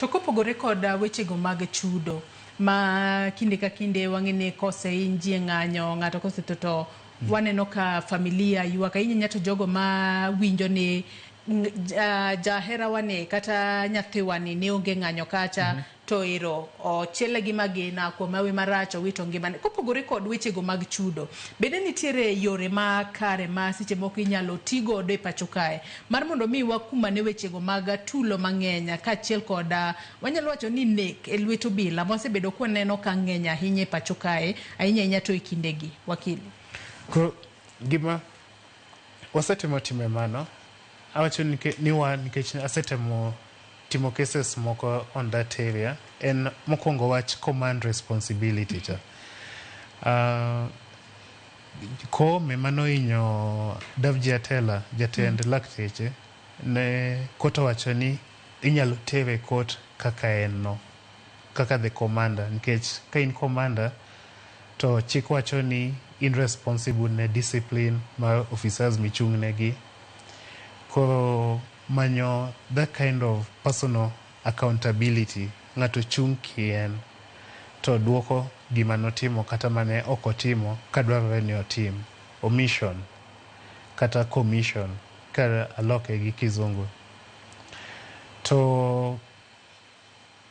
To kopogore kod wechego mag chudo ma kinde ka kinde wang'e ni kosehiny ji e ng'anyo, ng'ato kosetho to waneno ka familia ywak ahinya nya to jogo ma winjo ni jaherawani kata nyathiwani ne onge ng'anyo kacha to ero ochiele gi magina, kuome hawi marach, owito ngimane. Kopogore kod wechego mag chudo, bende nitiere yore makare ma seche moko inyalo ti godo e pacho kae Mar mondo omi wakum ane wechego mag tulo mang'eny kaachiel kod, wanyalo wacho ni nek e lwet obila mwasebedo kwaneno ka ng'eny ahinya e pacho kae, ahinya ahinya to e kindegi. Wakili. Koro gima wasetemo timo e mano, awacho ni ke- ni wan nikech asetemo timo cases moko on that area, en mokwongo wach command responsibility cha. Ah, Kom ema nohinyo Davji Atela, jatend lakteche ne kot owacho ni inyalo tere e kot kaka en no, kaka the commander nikech ka in commander to chik wacho ni in responsible ne discipline ma officers michung' negi. Koro manyo that kind of personal Accountability, Ng'ato chung' kien to dwoko gima notimo kata mane ok otimo ka dwarore ni otim. Omission kata commission ka aloke gi kizungu. To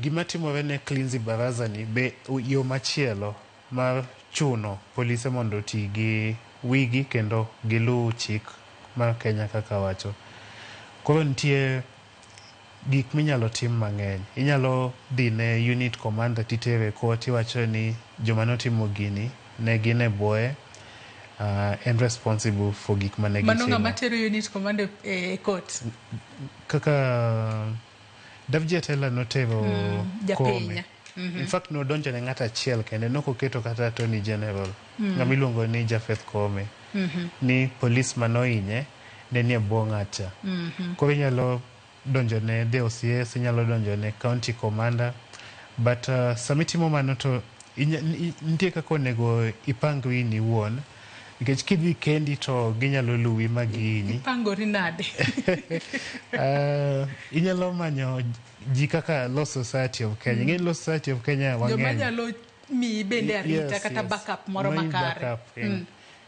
gima timore ne Cleansy Baraza ni be yo machielo mar chuno polise mondo oti gi wigi kendo giluw chik mar Kenya kaka wacho. Koro nitie. Gik minyalo tim mang'eny. Inyalo dhi ne unit commander titere ko tiwacho ni joma notimo gini ne gin e bwoye, en responsible for gik mane gitimo. Mano ng'ama tero unit commander e court. Kaka Davji Atela notero Koome. In fact nodonjo ne ng'at achiel kende, nokoketo kata Attorney General. ng'ama iluongo ni Japheth Koome ni polis mane ohinye ne nie bwo ng'atcha. Koro inyalo donjo ne the OCS, inyalo donjo ne county commander but uh, sama itimo mano to inya- ni- i- nitie kaka onego ipangri in iwuon nikech kidhi kendi to ginyalo luwi ma gihinyi. Ipangori nade? Ah, inyalo manyo ji kaka Law Society of Kenya. Ing'e ni Law Society of Kenya Joma wang'eny. nyalo miyi bende arita kata backup moro Mayi makare backup, eh.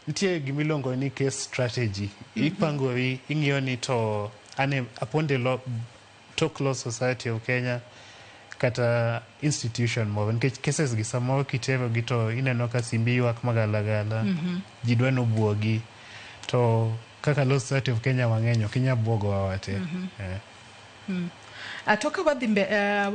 nitie gima iluongo ni case strategy ipangori ing'iyo ni to ane upon the law, tok law society of kenya kata institution moro nikech cases gi samoro kiterogi to ineno ka simbi ywak magalagala ji dwa ni obwogi to kaka law society of kenya wang'eny ok inyal bwogowa wate Eh. Ah, to ka wadhi mbe, eh,